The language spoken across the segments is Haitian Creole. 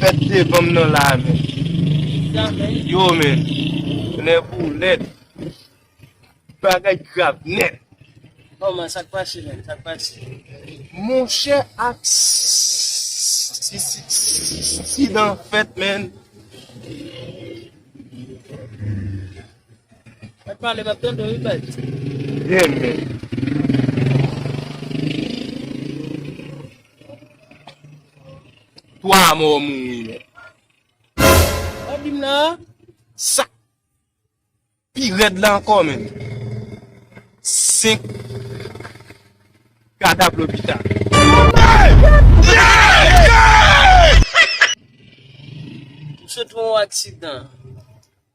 Fèt devanm nan la men. Yo men. Nè boulèt. Bagay grav nèt. Bon man sak pase men sak pase. Monchè aksidan fèt men. Mwen pale map tande wi bay. Ye men. 3 mò mouri nèt. An dim nan an sak pi rèd la ankò menm 5 kadav lopital. Tout se pou yon aksidan.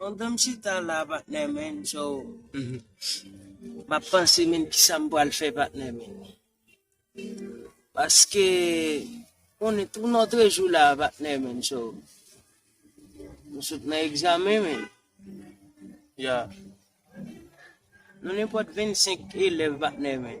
Mwen gentan chita la patnè men so map panse men kisam pral fè patnè men paske on est un autre jour la patnè men so mwen sot nan egzamen men ya nou nenpòt 25 elèv patnè men.